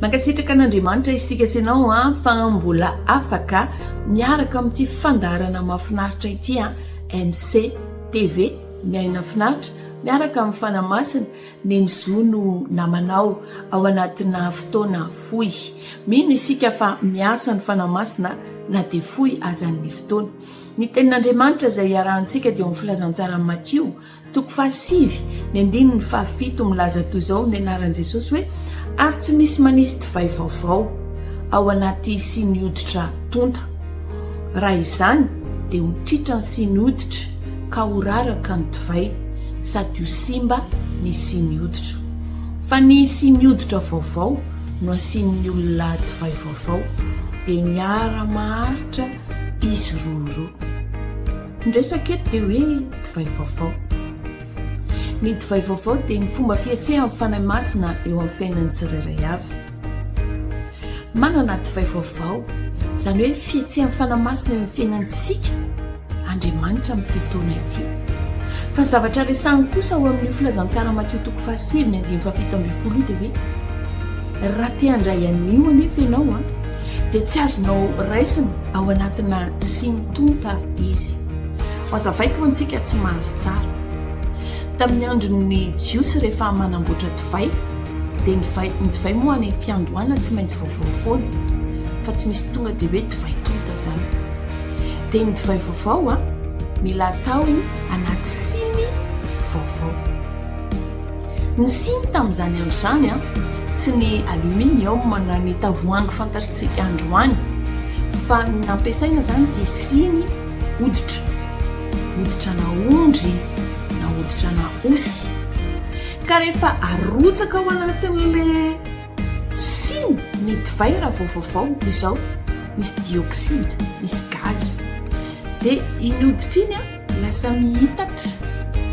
Mankasitraka an'Andriamanitra isika sy ianao fa mbola afaka miaraka amin'ity fandaharana mahafinaritra ity MC TV ny aina finaritra miaraka amin'ny Fanahy Masina neny zo no namanao ao anatina fotoana fohy. Mino isika fa miasa ny Fanahy Masina na dia fohy aza ny fotoana. Ny tenin'Andriamanitra izay iarahantsika dia ao amin'ny filazantsaran'i Matio Toko fahasivy, ny andininy fahafito milaza toy izao ny anaran'i Jesosy hoe, Ary tsy misy manisy divay vaovao ao anaty siny hoditra tonta, raha izany dia ho tritra ny siny hoditra ka ho raraka ny divay, sady ho simba ny siny hoditra. Fa ny siny hoditra vaovao no asian'ny olona divay vaovao, dia miara-maharitra izy roa ireo. Ny resaka eto dia hoe divay vaovao. Ny divay vaovao dia ny fomba fihetsehan'ny Fanahy Masina eo amin'ny fiainan'ny tsirairay avy. Manana divay vaovao, izany hoe fihetsehan'ny Fanahy Masina eo amin'ny fiainantsika, Andriamanitra amin'ity taona ity. Fa ny zavatra resahiny kosa ao amin'io filazantsara Matio toko fahasivy ny andininy fahafito ambin'ny folo io dia hoe, Raha te handray anio anefa ianao, dia tsy azonao raisina ao anatina siny. Tonta Izy. Hohazavaiko ho antsika tsy mahazo tsara. Tamin'ny andron'ny Jiosy rehefa manamboatra divay dia ny divay, ny divay moa any am-piandohana tsy maintsy vaovao foana fa tsy misy tonga dia hoe divay tonta izany. Dia ny divay vaovao a, mila atao anaty siny vaovao. Ny siny tamin'izany andro izany tsy ny aluminium na ny tavoahangy fantatsika androany fa ny nampiasaina izany dia siny hoditra, hoditrana ondry na hoditrana osy ka rehefa arotsaka ao anatin'ilay siny ny divay raha vao vaovao dia izao misy dioxyde, misy gaz dia iny hoditra iny an! Lasa mihitatra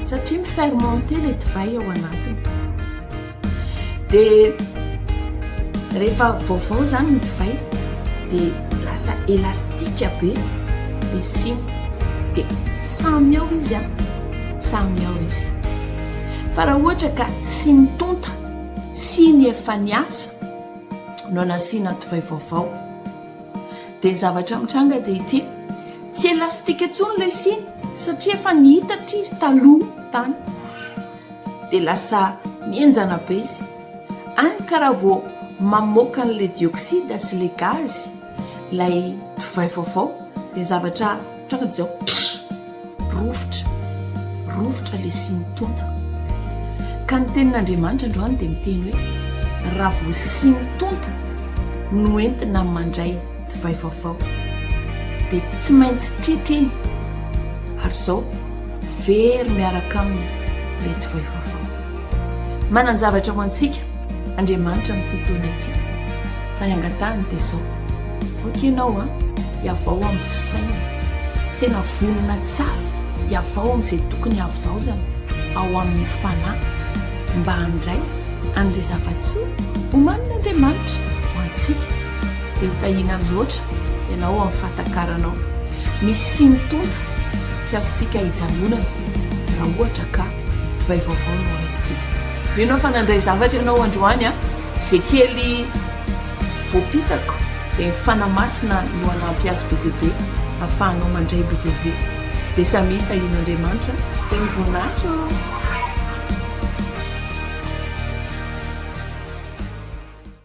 satria mi-fermenter ilay divay ao anatiny. Dia rehefa vaovao izany ny divay dia lasa elastika be ny siny. Dia samy ao izy an, samy ao izy. Fa raha ohatra ka siny tonta, siny efa niasa no nasiana divay vaovao, Dia ny zavatra mitranga dia ity, tsy elastika intsony ilay siny satria efa niitatra izy taloha tany, dia lasa mihenjana be izy, any ka raha vao mamoaka an'ilay dioxyde sy ilay gaz ilay divay vaovao dia ny zavatra Tonga dia izao, pff! Rovitra, rovitra lesin'ny tonta. Ka ny tenin'Andriamanitra androany dia miteny hoe, Raha vao sin'ny tonta no entina mandray divay vaovao, dia tsy maintsy tritra iny, ary izao very miaraka aminy ilay divay vaovao. Manan-javatra ho antsika Andriamanitra amin'ity taona ity, fa ny angatahiny dia izao, Ok ianao a, iavao amin'ny fisainana. Tena vonona tsara iavao amin'izay tokony havaozana ao amin'ny fanahy mba handray an'ilay zava-tsoa omanin'Andriamanitra ho antsika. Dia ho tahiana mihoatra ianao amin'ny fahatakaranao misy siny tonta tsy azontsika ijanonana raha ohatra ka divay vaovao no raisintsika. Mino aho fa nandray zavatra ianao androany a, izay kely. Voapitako, dia ny Fanahy Masina no hanampy azy be dia be hafahanao mandray BDV. Dia samy hita in Andriamanitra teo ny voninahitra oh!